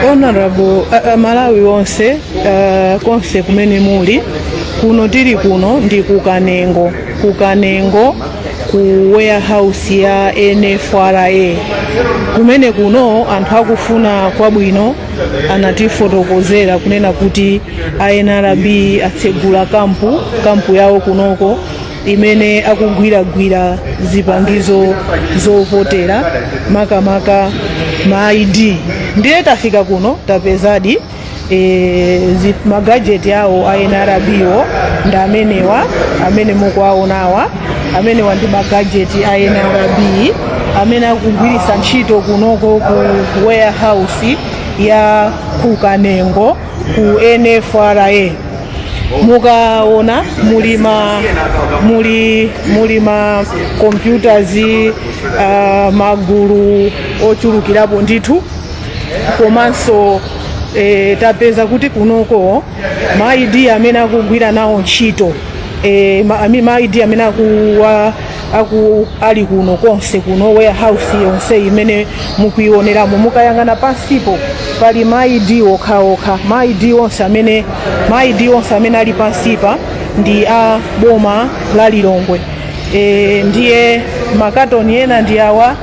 honorable uh, malawi wonse uh, konse kumene muli kuno tili kuno ndi ku kanengo ku kanengo ku warehouse ya nfra kumene kuno anthu akufuna kwabwino anatifotokozera kunena kuti a nrb atsegula kampu kampu yawo kunoko imene akugwiragwira zipangizo zovotera makamaka ma id ndiye tafika kuno tapezadi e, zi- magajeti awo a nrb-wo ndi amenewa amene mukuwaonawa amenewa ndi magajeti a nrb amene akugwiritsa ntchito kunoko ku ku warehouse ya ku kanengo ku nfra mukaona muli ma muli muli ma computers uh, magulu ochulukirapo ndithu komanso eh, tapeza kuti kunoko ma ID amene akugwira nawo ntchito eh, ma, ami- ma ID amene akuwa aku ali kuno konse kuno warehouse yonse imene mukuioneramo mukayang'ana pansipo pali ma ID okhaokha ma ID onse amene ma ID onse amene ali pansipa ndi a boma la Lilongwe e, ndiye makatoni ena ndi awa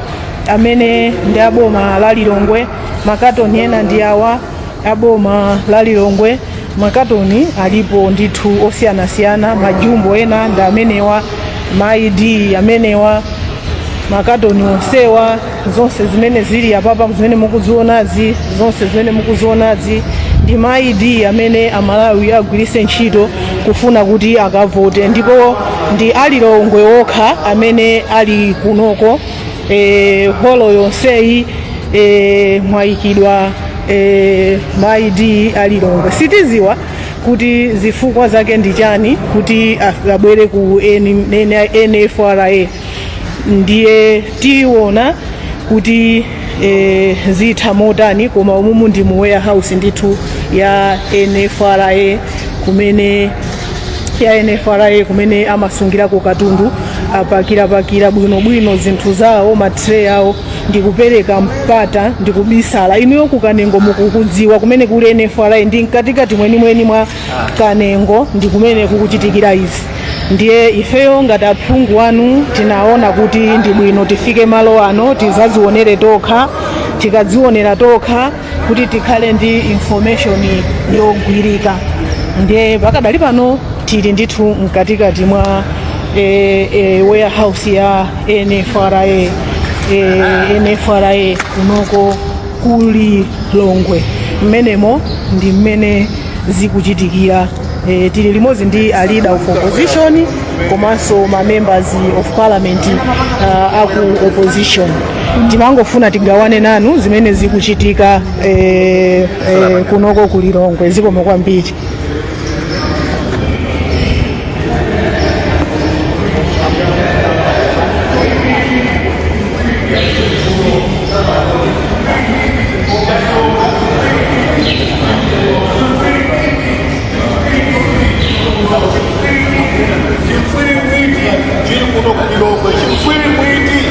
amene ndi a boma la Lilongwe makatoni ena ndi awa a boma la lilongwe makatoni alipo ndithu osiyanasiyana majumbo ena ndi amenewa ma id amenewa makatoni onsewa zonse zimene zili apapa zimene mukuzionazi zonse zimene mukuzionazi ndi ma id amene amalawi agwiritse ntchito kufuna kuti akavote ndipo ndi alilongwe okha amene ali kunoko e, holo yonseyi e, mwayikidwa e, ma id a lilongwe sitiziwa kuti zifukwa zake ndi chani kuti af- abwere ku N- N- nfra ndiye tiona kuti e, zitha motani koma umumu ndi mu warehouse ndithu ya nfra kumene ya NFRA kumene amasungirako katundu apakira-pakira bwinobwino zinthu zawo ma tray awo ndi kupereka mpata ndi kubisala inuyo ku kanengo mukukudziwa kumene kuli NFRA ndi mkatikati mwenimweni mwa kanengo ndi kumene kukuchitikira izi ndiye ifeyo ngati aphungu anu tinaona kuti ndi bwino tifike malo ano tizazionere tokha tikadzionera tokha kuti tikhale ndi information yogwirika ndiye pakadali pano tili ndithu mkatikati mwa eh, eh, warehouse ya NFRA eh, NFRA kunoko ku Lilongwe mmenemo ndi mmene zikuchitikira eh, tili limodzi ndi a leader of opposition komanso ma members of parliament uh, aku opposition timangofuna tigawane nanu zimene zikuchitika eh, eh, kunoko ku Lilongwe zikomo kwambiri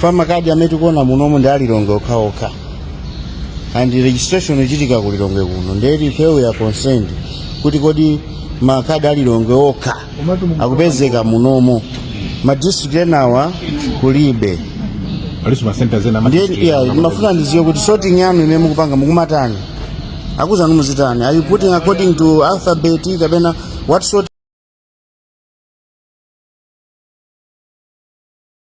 fa makadi amene tikuona munomu ndi a Lilongwe okhaokha and registration ichitika ku Lilongwe kuno nde ti ifeyo a concerned kuti kodi makadi a Lilongwe okha akupezeka munomo madistrict enawa kulibe alinso masenta zena ama- ndiye yeah, mmafuna ndiziwe kuti sorting yanu imene mukupanga mukumatani akuzanu muzitani are you putting according to alphabet kapena what sort